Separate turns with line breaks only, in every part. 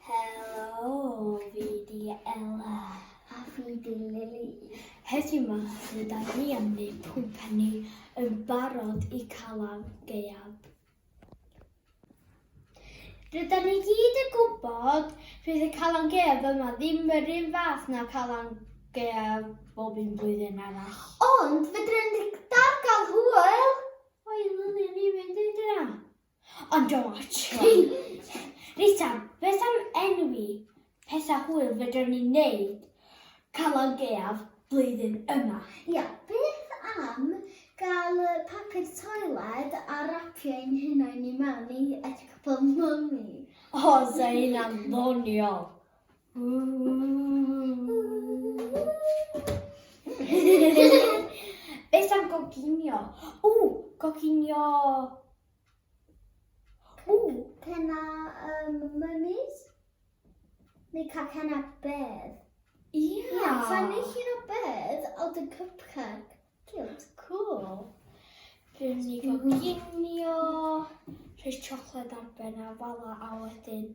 Helo, fi di Ella. A fi di Lily. Heddiw ma, rydyn ni am wneud pwmpenni yn barod i Calan Gaeaf. Rydyn ni gyd yn gwybod fydd y Calan Gaeaf yma ddim yr un fath na Calan Gaeaf bob un blwyddyn arall. Ond fedrwn ni dal gael hwyl! O'i Lily, ni fynd i dyna. Ond o Archon. Rita, beth am enwi pethau hwyl fedrwn ni wneud Calan Gaeaf blwyddyn yma? Ia, beth am gael papur toiled a rapio ein hunain i mewn i at cwpl mummy? O, sa hynna'n ddoniol! Beth am goginio? O, goginio! O, penna um, mummies? Neu cael penna bedd? Ia! Yeah. Sa'n neud llun o bedd o dy cupcake. Diolch, cool. Dwi'n mynd i goginio, rhoi siocled ar ben a fala a wedyn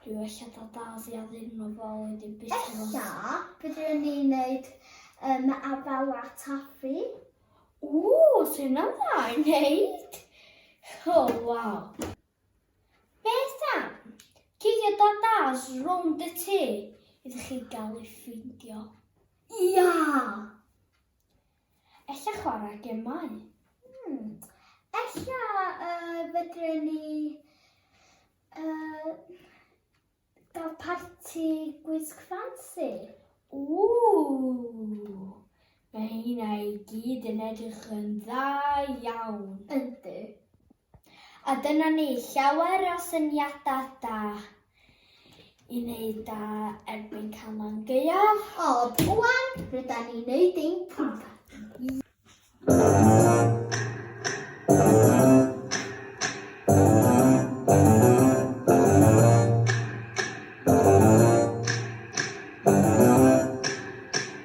dwi wella da daz i addyn nhw fo wedyn bysio fo. Ella, byddwn ni'n neud um, afala taffi. Ww, sy'n am dda i wneud. Oh, wow. Beth am? Cigio da daz rownd y tŷ iddo chi gael ei ffeindio. Ia! Ella chwarae gemau. Hmm. Ella uh, fedre ni uh, gael parti gwisg ffansi. Ww! Mae hynna i gyd yn edrych yn dda iawn. Yndi. A dyna ni, llawer o syniadau da i wneud da erbyn Calan Gaeaf. O, rwan, rydan ni'n neud ein pwmpen.